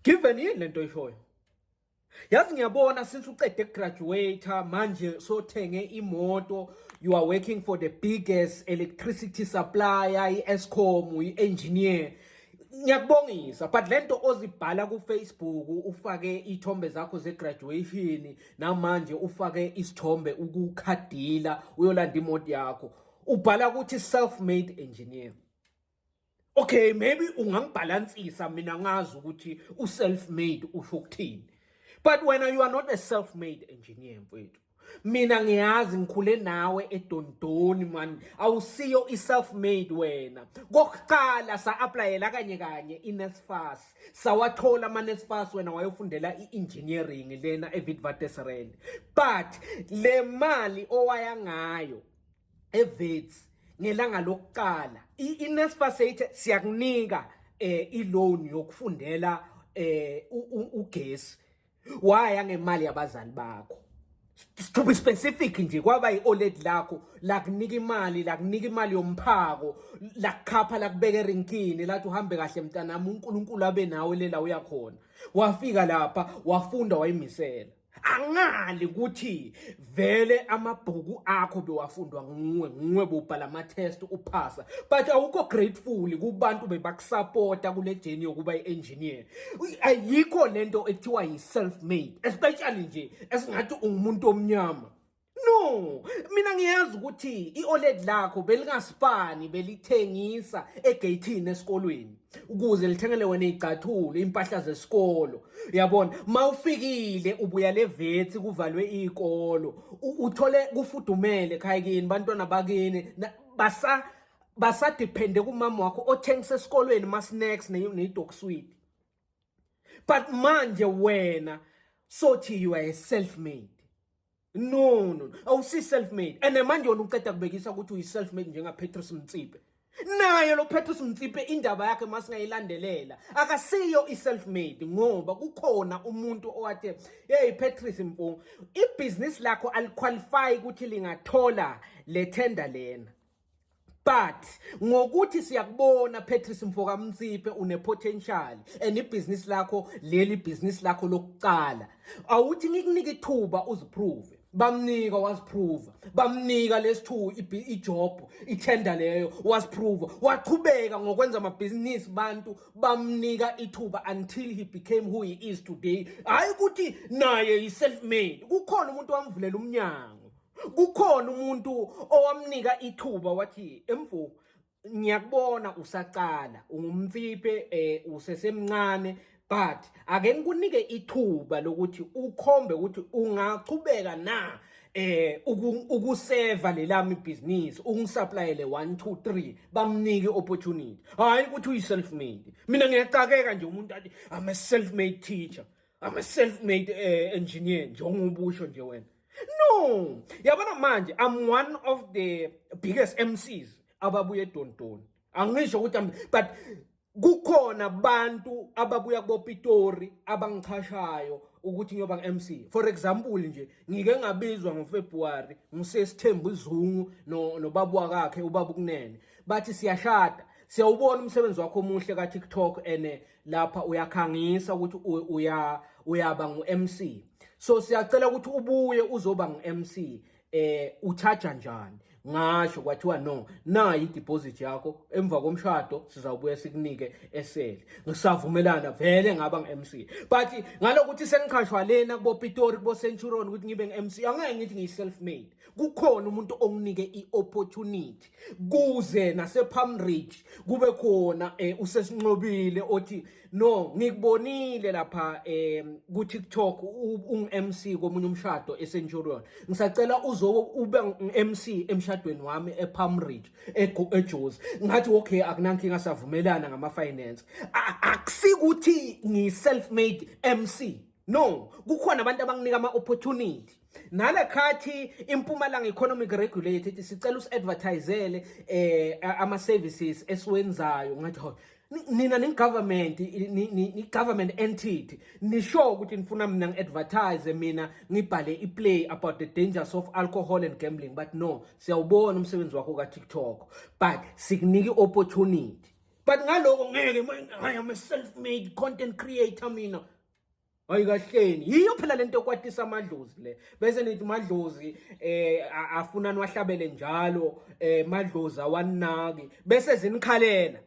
Given yini lento oyishoyo? Yazi ngiyabona since uqede graduate manje sothenge imoto you are working for the biggest electricity supplier iEscom uyiengineer ngiyakubongisa but lento ozibhala ku Facebook ufake ithombe zakho ze graduation namanje ufake isithombe ukukhadila uyolanda imoto yakho ubhala ukuthi self made engineer Okay, maybe ungangibhalansisa mina ngazi ukuthi u self made usho ukuthini. But when you are not a self made engineer mfethu. Mina ngiyazi ngikhule nawe edondoni man. Awusiyo i self made wena. Kokuqala sa applyela kanye kanye i NSFAS. Sawathola ama NSFAS wena wayofundela i engineering lena e Witwatersrand. But le mali owaya ngayo eVets ngelanga lokuqala iNSFAS ethi siyakunika eh iloan yokufundela eh ugesi waya ngemali yabazali bakho to be specific nje kwaba i-oled lakho lakunika imali lakunika imali yomphako lakukhapha lakubeka erinkini lathi uhambe kahle mntanami unkulunkulu abe nawe lela uyakhona wafika lapha wafunda wayimisela angali ukuthi vele amabhuku akho bewafundwa nguwe nguwe bobhala ama test uphasa but awukho grateful kubantu bebakusupporta kule journey yokuba iengineer ayikho lento ekuthiwa yi self made especially nje esingathi ungumuntu omnyama No, mina ngiyazi ukuthi i-OLED lakho belingasipani belithengisa egeyithini esikolweni ukuze lithengele wena izicathulo, impahla zesikolo. Yabona, mawufikile ubuya levethi kuvalwe izikolo, uthole kufudumele ekhaya kini, bantwana bakini basa basadepende kumama wakho othengisa esikolweni ma snacks ne ne dog sweet. but manje wena sothi you are a self made no no awusi self made and manje wona uceda kubekisa ukuthi uyi self made njenga Petrus Mtsipe naye lo Petrus Mtsipe indaba yakhe masingayilandelela akasiyo i self made ngoba kukhona umuntu owathe hey Petrus Mpunga ibusiness lakho aliqualify ukuthi lingathola le tender lena but ngokuthi siyakubona Patrice Mfoka Mnsiphe une potential and ibhizinisi lakho leli bhizinisi lakho lokuqala awuthi ngikunike ithuba uziprove bamnika waziprova bamnika lesithu ijob itender leyo waziprova waqhubeka ngokwenza amabhizinisi bantu bamnika ithuba until he became who he is today hayi ukuthi naye yi-self made kukhona umuntu wamvulela umnyango kukhona umuntu owamnika ithuba wathi emfo ngiyakubona usaqala ungumfiphe eh usesemncane but ake ngikunike ithuba lokuthi ukhombe ukuthi ungaqhubeka na eh ukuseva lelami business ungisuppliele 1 2 3 bamnike opportunity hayi ukuthi uyi self made mina ngiyacakeka nje umuntu athi i'm a self made teacher i'm a self made uh, eh, engineer njengoba usho nje wena no yabona manje i'm one of the biggest mcs ababuye edontoni angisho ukuthi but kukhona abantu ababuya kubopitori abangichashayo ukuthi ngiyoba ngu-mc for example nje ngike ngabizwa ngofebruwari ngisesithembu izungu nobabu wakakhe ubaba ukunene bathi siyashada siyawubona umsebenzi wakho omuhle ka-tiktok and eh, lapha uyakhangisa ukuthi uya uyaba ngu-MC so siyacela ukuthi ubuye uzoba ngu-MC eh uchaja njani ngasho kwathiwa no nayi ideposit yakho emva komshado sizawubuye sikunike eseli ngisavumelana vele ngaba nge-MC but ngalokuthi sengiqhashwa lena kubo Pitori kubo Centurion ukuthi ngibe nge-MC angeke ngithi ngiyi self made kukhona umuntu onginike i-opportunity kuze nasePalm Ridge kube khona eh, usesinqobile othi no ngikubonile lapha eh, ku TikTok ungMC komunye umshado eCenturion ngisacela uzo ube uMC emshadweni wami ePalm Ridge eJozi ngathi okay akunankinga savumelana ngama finance akusikuthi ngi self made MC no kukhona abantu abanginika ama opportunity nalekhathi impumalanga economic regulator ithi sicela usi-advertisele eh ama-services esiwenzayo ngathi ho nina ningigovernment ni-government entity nisho ukuthi nifuna mina ngi-advertise mina ngibhale i-play about the dangers of alcohol and gambling but no siyawubona umsebenzi wakho ka-tiktok but sikunika i-opportunity but ngaloko ngeke I'm a self-made content creator mina hayi kahleni yiyo phela lento ekwatisa amadlozi le bese nithi madlozi eh afuna niwahlabele njalo eh madlozi awanaki bese zinikhalela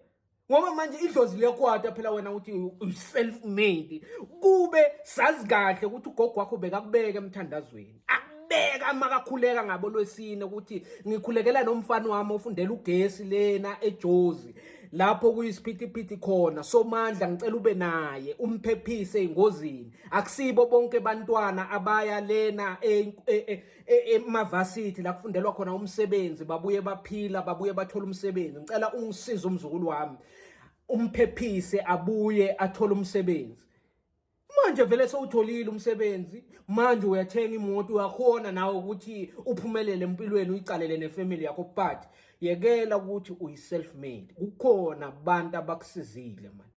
ngoba manje idlozi liyakwata phela wena uthi uself made kube sazi kahle ukuthi ugogo wakho bekakubeka emthandazweni akubeka makakhuleka ngabo lwesine ukuthi ngikhulekela nomfana wami ofundela ugesi lena ejozi lapho kuyisiphithiphithi khona somandla ngicela ube naye umphephise engozini akusibo bonke bantwana abaya lena e, e, e, emavasithi la kufundelwa khona umsebenzi babuye baphila babuye bathola umsebenzi ngicela ungisize umzukulu wami umphephise abuye athole umsebenzi manje vele sewutholile umsebenzi manje uyathenga imoto uyakhona nawe ukuthi uphumelele empilweni uyicalele nefamily yakho but yekela ukuthi uyi-self made kukhona abantu abakusizile manje